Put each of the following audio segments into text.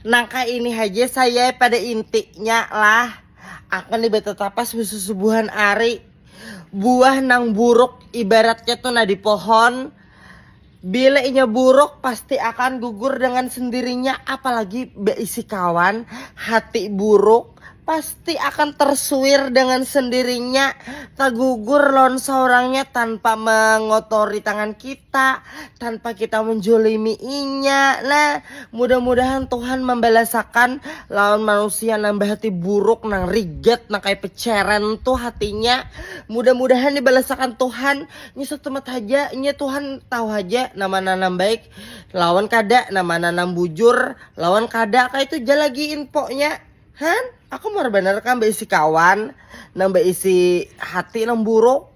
Nangka ini haja saya pada intinya lah akan dibatatapas subuhan ari buah nang buruk ibaratnya tuh nah di pohon bila inya buruk pasti akan gugur dengan sendirinya apalagi beisi kawan hati buruk Pasti akan tersuir dengan sendirinya, tergugur lawan saurangnya tanpa mengotori tangan kita, tanpa kita menjolimi inya. Nah, mudah-mudahan Tuhan membalasakan lawan manusia nang bahati buruk, nang rigat, nang kayak peceren tuh hatinya. Mudah-mudahan dibalasakan Tuhan. Nya satumat haja, nya Tuhan tahu haja nama nang baik. lawan kada nah mana nang bujur lawan kada kah itu ja lagi infonya han aku mau bener kan beisi kawan nang beisi hati nang buruk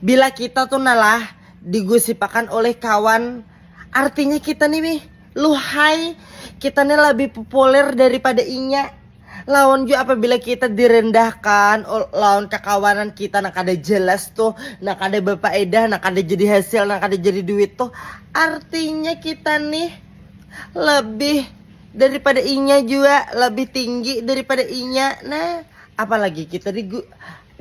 bila kita tuh nalah digusipakan oleh kawan artinya kita nih wih luhai kita nih lebih populer daripada inya lawan jua apabila kita direndahkan lawan kakawanan kita nak ada jelas tuh nak ada berfaedah nak ada jadi hasil nak ada jadi duit tuh artinya kita nih lebih daripada inya juga lebih tinggi daripada inya nah apalagi kita di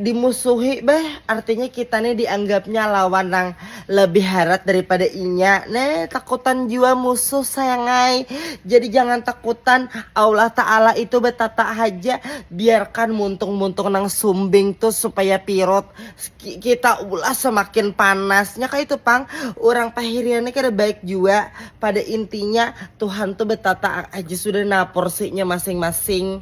Dimusuhi beh, artinya kita nih dianggapnya lawan nang lebih harat daripada inya. Nah, takutan jua musuh sayangai. Jadi jangan takutan, Allah Ta'ala itu betatak haja. Biarkan muntung-muntung nang sumbing tu supaya pirut kita ulah semakin panas. Nya kaya itu pang, urang pahirian nih kada baik jua. Pada intinya, Tuhan tu betatak haja sudah nah porsinya masing-masing.